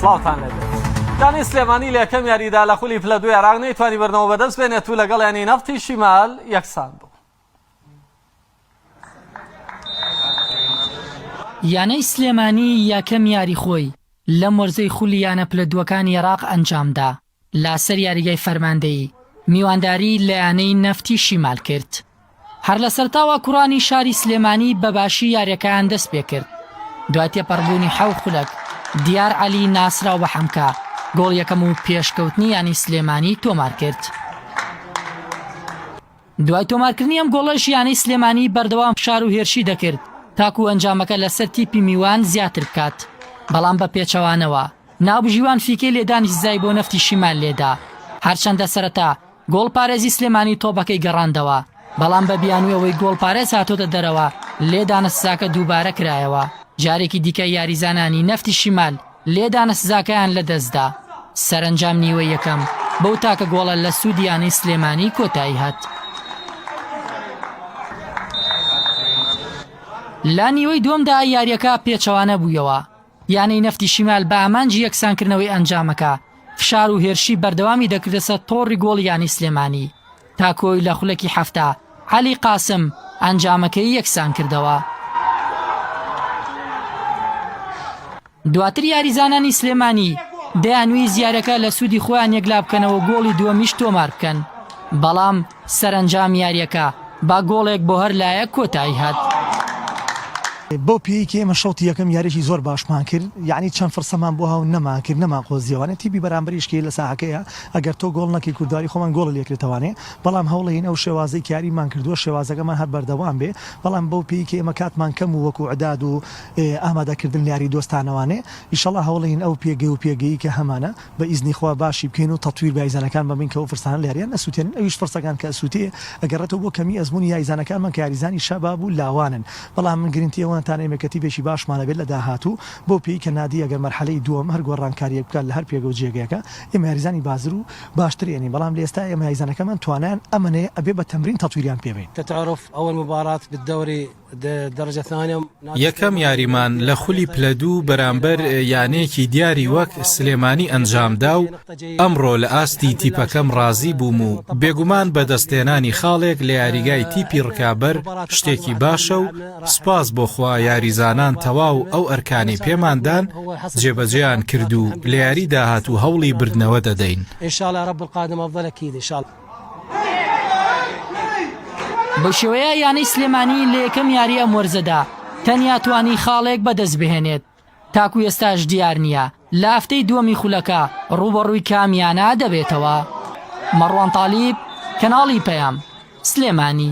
سڵاوتان لەبێت دانی سلێمانی لە یەکەم یاریدا لە خولی پلە دوی عراق نەیتوانی بەرنەوە بەدەست بێنێت و لەگەڵ ینی نەفتی شیمال یەکسان بوو یانەی سلێمانی یەکەم یاری خۆی لەم وەرزەی خولی یانە پلە دووەکانی عێراق ئەنجامدا لەسەر یاریگای فەرماندەیی میوانداری لە یانەی نەفتی شیمال کرد. هەر لە سەرتاوە کوڕانی شاری سلێمانی بە باشی یاریەکەیان دەست پێکرد دوای تێپەڕبوونی حەو خولەک دیار عەلی ناسراو بە حەمکە گۆڵ یەکەم و پێشکەوتنی یانی سلێمانی تۆمار کرد. دوای تۆمارکردنی ئەم گۆڵەش یانەی سلێمانی بەردەوام فشار و هێرشی دەکرد تاکوو ئەنجامەکە لەسەر تیپی میوان زیاتر بکات، بەڵام بە پێچەوانەوە ناوبژیوان فیکەی لێدانی سزای بۆ نەفتی شیمال لێدا، هەرچەندە سەرەتا گۆڵپارێزی سلێمانی تۆپەکەی گەڕاندەوە، بەڵام بە بیانووی ئەوەی گۆڵپارێز هاتۆتە دەرەوە لێدانە سزاکە دووبارە کرایەوە، جارێکی دیکە یاریزانانی نەفتی شیمال لێدانە سزاکەیان لەدەستدا، سەرەنجام نیوەی یەکەم بەو تاکە گۆڵە لە سوودی یانەی سلێمانی کۆتاییهات. لە نیوەی دووەمدا یارییەکە پێچەوانە بوویەوە، یانەی نەفتی شیمال بە ئامانجی یەکسانکردنەوەی ئەنجامەکە، فشار و هێرشی بەردەوامی دەکردەسەر تۆڕی گۆڵی یانەی سلێمانی، تا کۆیلە خولەکی حەفتا، عەلی قاسم، ئەنجامەکەی یەکسان کردەوە. دواتر یاریزانانی سلێمانی دەیانویست یاریەکە لە سوودی خۆیان یەکلابکەنەوە گۆڵی دووەمیش تۆمار بکەن، بەڵام سەرەنجام یاریەکە با گۆڵێک بۆ هەر لایەک کۆتایی هات. بەو پێیەی کە ئێمە شەوتی یەکەم یاریەکی زۆر باشمان کرد، یانی چەند فرسەمان بۆ هاو نەمانکرد نەمانقۆزیەوە، یانی تیپی بەرامبەریش کە لە ساحەکەیە ئەگەر تۆ گۆڵ نەکەی کوردواری خۆمان گۆڵی لێکرێتەوانێ بەڵام هەوڵەین ئەو شێوازەی کە یاریمان کردووە شێوازەکەمان هەر بەردەوام بێ بەڵام بەو پێی کە ئێمە کاتمان کەم و وەکو عداد و ئامادە کردن لە یاری دۆستانەوانێ ئیشەڵا هەوڵەین ئەو پێگەی و پێگەی کە هەمانە بە ئیزنی خوا باشی بکەین و تەتویر بە یاریزانەکان بەمین کە ئەو فرسانە لە یاریان ئەسوتێنن ئەویش فرسەکان کە ئەسوتێ ئەگەڕێتەوە بۆ کەمی ئەزموونی یاریزانەکانمان کە یاریزانی شەباب و لاوانن بەڵام من گرنتی ئەوەن تان ئێمە کەتیبێکی باشمان هەبێت لە داهاتوو بەو پێی کە نادی ئەگەر مەرحەلەی دووەم هەر گۆڕانکاریەک بکات لە هەر پێگە و جێگەکە ئێمە یاریزانی بازر و باشتر ئێنین بەڵام لە ئێستا ئێمە یاریزانەکەمان توانایان ئەمەنەیە ئەبێ بە تەمرین تەتویریان پێ بەین. تتعرف اول مباراة بالدوري درجة ثانية نادي یەکەم یاریمان لە خولی پلە دوو بەرامبەر یانەیەکی دیاری وەک سلێمانی ئەنجام دا و ئەمڕۆ لە ئاستی تیپەکەم ڕازی بووم و بێگومان بەدەستهێنانی خاڵێک لە یاریگای تیپی ڕکابەر شتێکی باشە و سوپاس بۆ خوا یاریزانان تەواو ئەو ئەرکانەی پێمان دان جێبەجێیان کرد و لە یاری داهاتوو هەوڵی بردنەوە دەدەین. بەوشێوەیە یانەی سلێمانی لە یەکەم یاری ئەم وەرزەدا تەنیا توانی خاڵێک بەدەستبهێنێت، تاکو ئێستاش دیار نییە لە هەفتەی دووەمی خولەکە رووبەڕووی کام یانە دەبێتەوە؟ مەڕوان تالیب، کەناڵی پەیام، سلێمانی.